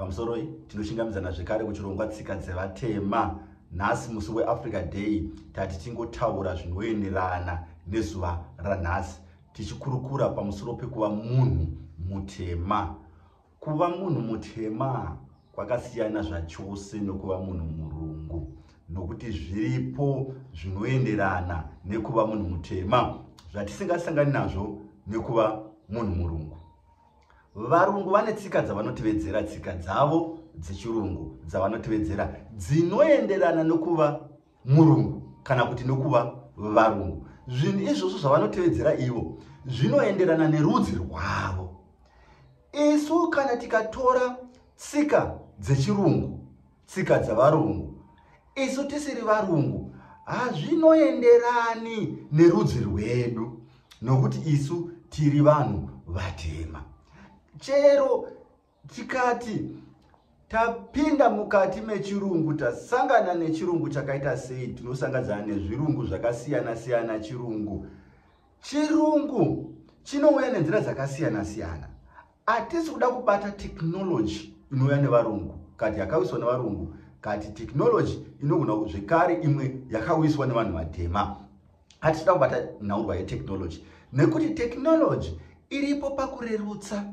pamusoroi tinochingamidzana zvekare kuchirongwa tsika dzevatema nhasi musi weafrica day tati tingotaura zvinoenderana nezuva ranhasi tichikurukura pamusoro pekuva munhu mutema kuva munhu mutema kwakasiyana zvachose nokuva munhu murungu nokuti zviripo zvinoenderana nekuva munhu mutema zvatisingasangani nazvo nekuva munhu murungu varungu vane tsika dzavanotivedzera tsika dzavo dzechirungu dzavanotivedzera dzinoenderana nokuva murungu kana kuti nokuva varungu zvinhu izvozvo zvavanotevedzera ivo zvinoenderana nerudzi rwavo isu kana tikatora tsika dzechirungu tsika dzavarungu isu tisiri varungu hazvinoenderani nerudzi rwedu nokuti isu tiri vanhu vatema chero tikati tapinda mukati mechirungu tasangana nechirungu chakaita sei tinosangadzana nezvirungu zvakasiyana siyana chirungu chirungu chinouya nenzira dzakasiyana siyana Atisi kuda kubata technology inouya nevarungu kati yakawiswa nevarungu kati technology inogona zvekare imwe yakawiswa nevanhu vatema. Atisi kuda kubata nhaurwa yetechnology nekuti technology iripo pakurerutsa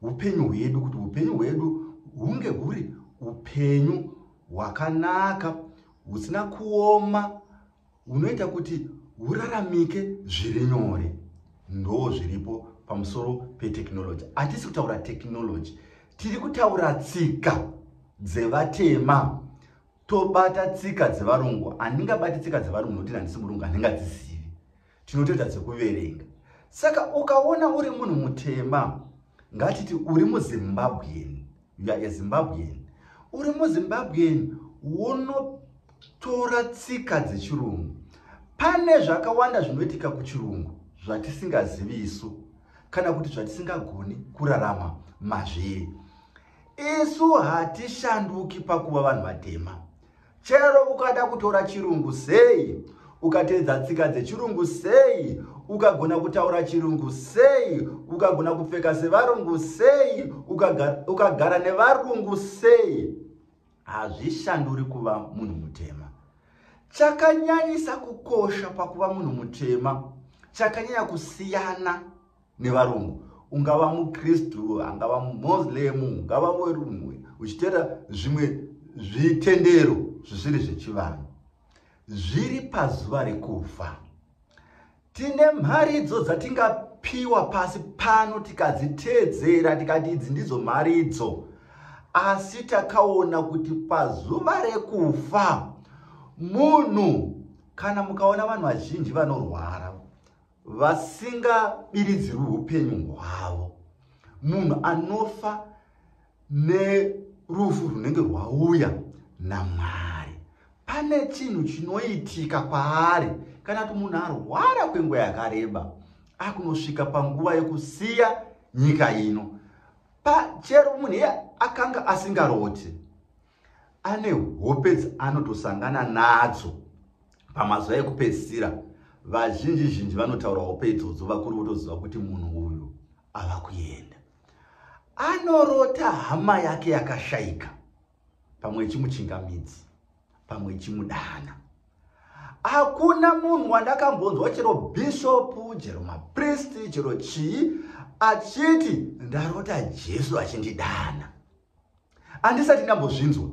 upenyu hwedu kuti upenyu hwedu hunge huri upenyu hwakanaka husina kuoma hunoita kuti huraramike zviri nyore ndoo zviripo pamusoro petechnology hatisi kutaura technology tiri kutaura tsika dzevatema tobata tsika dzevarungu handingabati tsika dzevarungu nokuti handisi murungu handingadzizivi tinotoita dzekuverenga saka ukaona uri munhu mutema ngatiti uri muzimbabwean you are a zimbabwean uri muzimbabwean wonotora tsika dzechirungu pane zvakawanda zvinoitika kuchirungu zvatisingazivi isu kana kuti zvatisingagoni kurarama mazviri isu hatishanduki pakuva vanhu vatema chero ukada kutora chirungu sei ukateedza tsika dzechirungu sei ukagona kutaura chirungu sei ukagona kupfeka sevarungu sei ukagara, ukagara nevarungu sei hazvishanduri kuva munhu mutema chakanyanyisa kukosha pakuva munhu mutema chakanyanya kusiyana nevarungu ungava mukristu angava mumoslem ungava werumwe uchitera zvimwe zvitendero zvisiri zvechivanhu zviri pazuva rekufa tine mharidzo dzatingapiwa pasi pano tikadziteedzera tikati idzi ndidzo mharidzo asi takaona kuti pazuva rekufa munhu kana mukaona vanhu vazhinji vanorwara vasingabiridzirwi upenyu hwavo munhu anofa nerufu runenge rwauya namwari pane chinhu chinoitika kwaari kana kuti munhu arwara kwenguva yakareba akunosvika panguva yekusiya nyika ino pachero munhu iye akanga asingaroti ane hope dzaanotosangana nadzo pamazuva ekupedzisira vazhinji zhinji vanotaura hope idzodzo vakuru votoziva kuti munhu uyu ava kuenda anorota hama yake yakashaika pamwe ichimuchingamidzi pamwe ichimudana hakuna munhu wandakambonzwa chero bishopu chero mapristi chero chii achiti ndarota jesu achindidana andisati ndambozvinzwa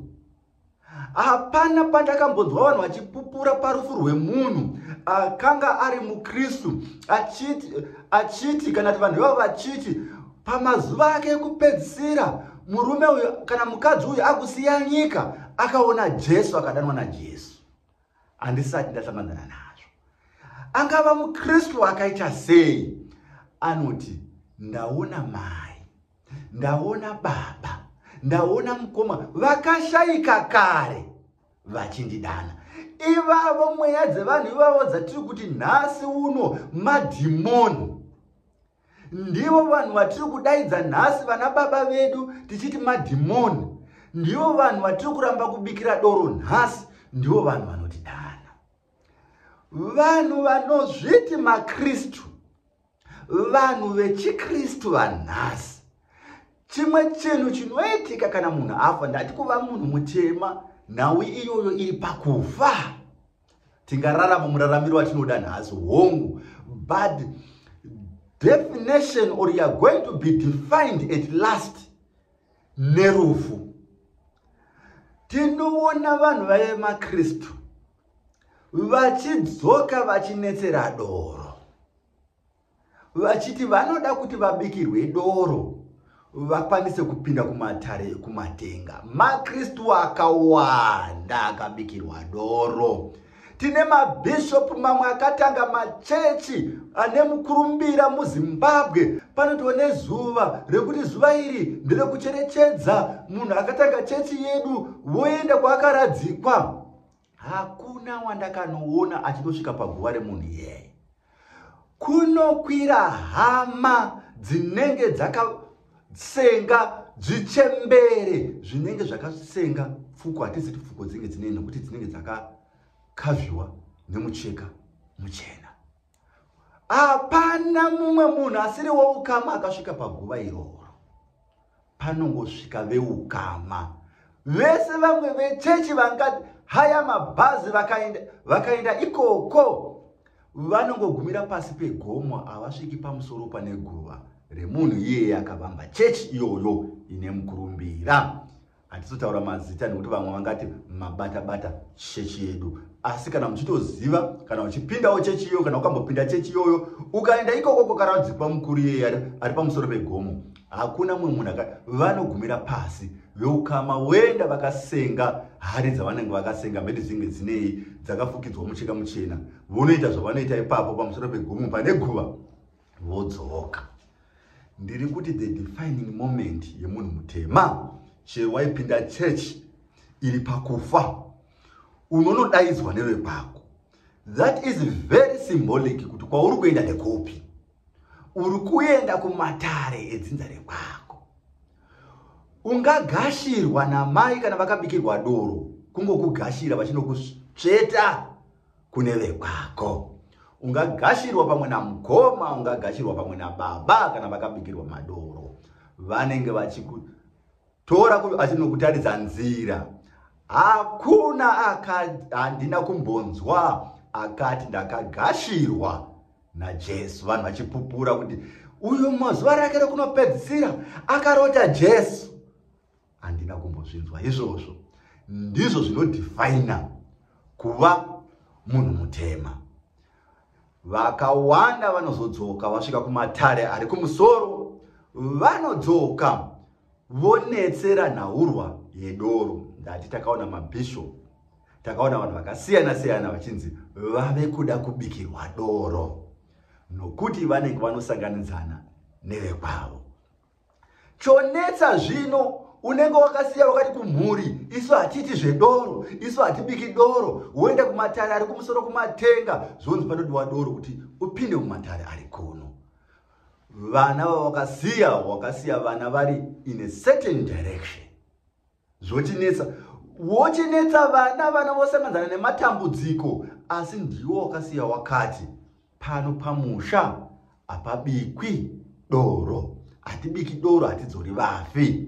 hapana pandakambonzwa vanhu vachipupura parufu rwemunhu akanga ari mukristu achiti, achiti kana ti vanhu ivavo vachiti pamazuva ake ekupedzisira murume uyu kana mukadzi uyu akusiya nyika akaona jesu akadanwa najesu handisati ndasanganana nazvo angava mukristu akaita sei anoti ndaona mai ndaona baba ndaona mukoma vakashaika kare vachindidana ivavo mweya dzevanhu ivavo dzatiri kuti nhasi uno madhimoni ndivo vanhu vatiri kudaidza nhasi vana baba vedu tichiti madhimoni ndivo vanhu vatiri kuramba kubikira doro nhasi ndivo vanhu vanotidana vanhu vanozviti makristu vanhu vechikristu vanhasi chimwe chinhu chinoitika kana munhu afa ndati kuva munhu mutema nhau iyoyo iri pakufa tingararama muraramiro watinoda nhasi hongu but definition or youare going to be defined at last nerufu tinoona vanhu vaive makristu vachidzoka vachinetsera doro vachiti vanoda kuti vabikirwe doro vakwanise kupinda kumatare ekumatenga makristu akawanda akabikirwa doro tine mabhishopu mamwe akatanga machechi ane mukurumbira muzimbabwe panotiwa nezuva rekuti zuva iri nderekucherechedza munhu akatanga chechi yedu voenda kwaakaradzikwa hakuna wandakanoona achinosvika paguva remunhu iyeye kunokwira hama dzinenge dzakasenga zvichembere zvinenge zvakasenga pfuko hatizi ti pfuko dzinenge dzine nokuti dzinenge dzakakavhiwa nemucheka muchena hapana mumwe munhu asiri woukama akasvika paguva iroro panongosvika veukama vese vamwe vechechi vangati haya mabhazi vakaenda vakaenda ikoko vanongogumira pasi pegomo havasviki pamusoro pane guva remunhu iyeye akavamba chechi iyoyo ine mukurumbira hatizotaura mazita nekuti vamwe vangati mabata bata chechi yedu asi kana muchitoziva kana uchipindawo chechi iyoyo kana ukambopinda chechi iyoyo ukaenda ikoko kokaradzikwa mukuru iyeye ari pamusoro pegomo hakuna mumwe munhu aka vanogumira pasi veukama voenda vakasenga hari dzavanenge vakasenga mhete dzinge dzinei dzakafukidzwa mucheka muchena vonoita zvavanoita ipapo pamusoro pegomo pane guva vodzoka ndiri kuti the defining moment yemunhu mutema chero waipinda church iri pakufa unonodaidzwa nevekwako that is very symbolic kuti kwauri kuenda nekupi uri kuenda kumatare edzinza rekwako ungagashirwa namai kana vakabikirwa doro kungokugashira vachinokusveta kune vekwako ungagashirwa pamwe namukoma ungagashirwa pamwe nababa kana vakabikirwa madoro vanenge vachikutora achinokutaridza nzira hakuna handina kumbonzwa akati ndakagashirwa najesu vanhu vachipupura kuti uyu mazuva rake rekunopedzisira akarota jesu handina kumbozvinzwa izvozvo ndizvo zvinodefina kuva munhu mutema vakawanda vanozodzoka vasvika kumatare ari kumusoro vanodzoka vonetsera nhaurwa yedoro ndati takaona mabishop takaona vanhu vakasiyana siyana vachinzi vave kuda kubikirwa doro nokuti vanenge vanosanganidzana nevekwavo chonetsa zvino unenge wakasiya wakati kumhuri isu hatiti zvedoro isu hatibiki doro woenda kumatare ari kumusoro kumatenga zvonzi panodiwa doro kuti upinde mumatare ari kuno vana vavakasiya wakasiya vana vari in a certain direction zvotinetsa wochinetsa vana vana vosanganzana nematambudziko asi ndiwo wakasiya wakati pano pamusha hapabikwi doro hatibiki doro hatidzori vafi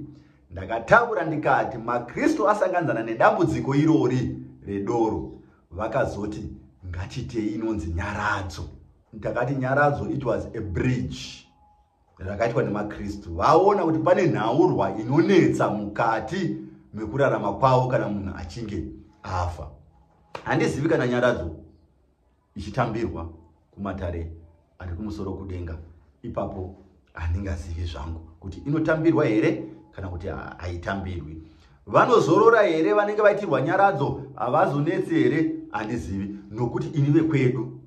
ndakataura ndikati makristu asanganzana nedambudziko irori redoro vakazoti ngachitei inonzi nyaradzo ndakati nyaradzo it was a bridge rakaitwa nemaKristu vaona kuti pane nhaurwa inonetsa mukati mekurarama kwavo kana munhu achinge afa. Handizivi kana nyaradzo ichitambirwa kumatare ari kumusoro kudenga ipapo handingazivi zvangu kuti inotambirwa here kana kuti haitambirwi vanozorora here vanenge vaitirwa nyaradzo havazonetsi here handizivi nokuti ini vekwedu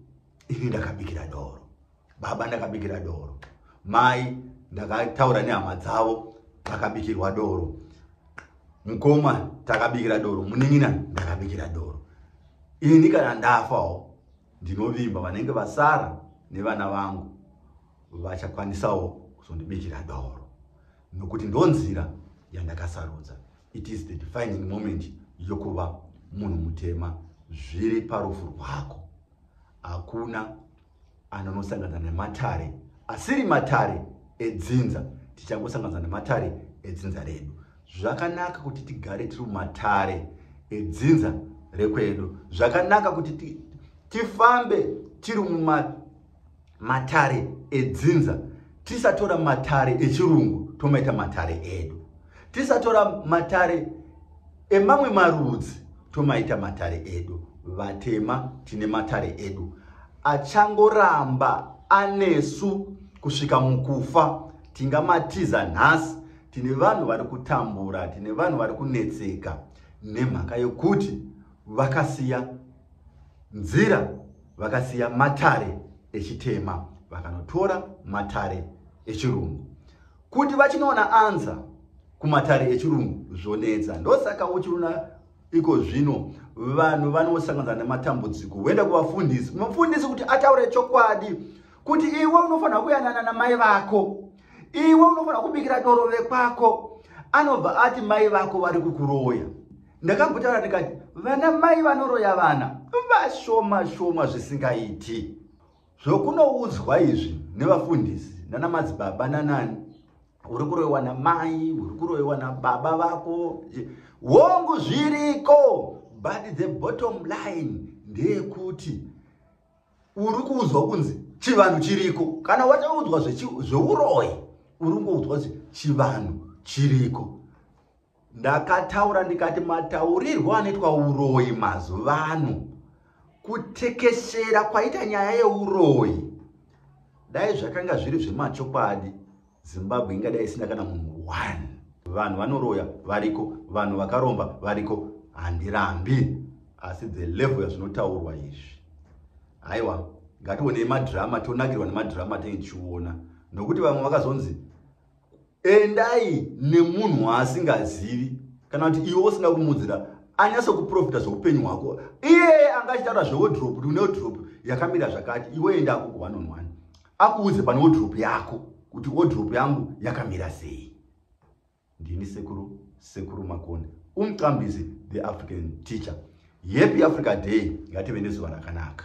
ini ndakabikira doro baba ndakabikira doro mai ndakataura nehama dzavo vakabikirwa doro mukoma takabikira doro munin'ina ndakabikira doro ini kana ndafawo ndinovimba vanenge vasara nevana vangu vachakwanisawo kuzondibikira doro nokuti ndonzira yandakasarudza it is the defining moment yokuva munhu mutema zviri parufu rwako hakuna anonosangana nematare asiri matare edzinza tichangosangana nematare edzinza redu zvakanaka kuti tigare tiri mumatare edzinza rekwedu zvakanaka kuti tifambe tiri mumatare edzinza tisatora matare echirungu tomaita matare edu tisatora matare emamwe marudzi tomaita matare edu vatema tine matare edu achangoramba anesu kusvika mukufa tingamatiza nhasi tine vanhu vari kutambura tine vanhu vari kunetseka nemhaka yokuti vakasiya nzira vakasiya matare echitema vakanotora matare echirungu kuti vachinoona anza kumatare echirungu zvonetsa ndosaka uchiona iko zvino vanhu vanosanganisa nematambudziko woenda kuvafundisi mufundisi kuti ataure chokwadi kuti iwe unofanira kuyanana namai vako iwe unofanira kubikira doro vekwako anobva ati mai vako vari kukuroya ndakambotaura ndikati vana mai vanoroya vana vashoma shoma zvisingaiti zvokunoudzwa izvi nevafundisi nana madzibaba nanani uri kuroiwa namai uri kuroiwa nababa vako hongu zviriko but the bottom line ndeyekuti uri kuudzwa kunzi chivanhu chiriko kana wataudzwa zveuroyi uri kungoudzwa kuti chivanhu chiriko ndakataura ndikati mataurirwo anoitwa uroyi mazuva ano kutekeshera kwaita nyaya yeuroyi dai zvakanga zviri zvemachokwadi zimbabwe ingadai isina kana munhu one vanhu vanoroya variko vanhu vakaromba variko handirambi asi the level yazvinotaurwa izvi haiwa ngationei madrama tonakirwa nemadrama tenge tichiona nokuti vamwe vakazonzi endai nemunhu waasingazivi kana kuti iwe usina kumudzira anyase kuprofita zveupenyu hwako iyeye anga achitaura zveodrop kuti une odrop yakamira zvakati iwe enda ako ku-one on one akuudze pane odrop yako kuti odrop yangu yakamira sei ndini sekuru sekuru makoni umqambizi the african teacher yepi africa day ngative nezuva rakanaka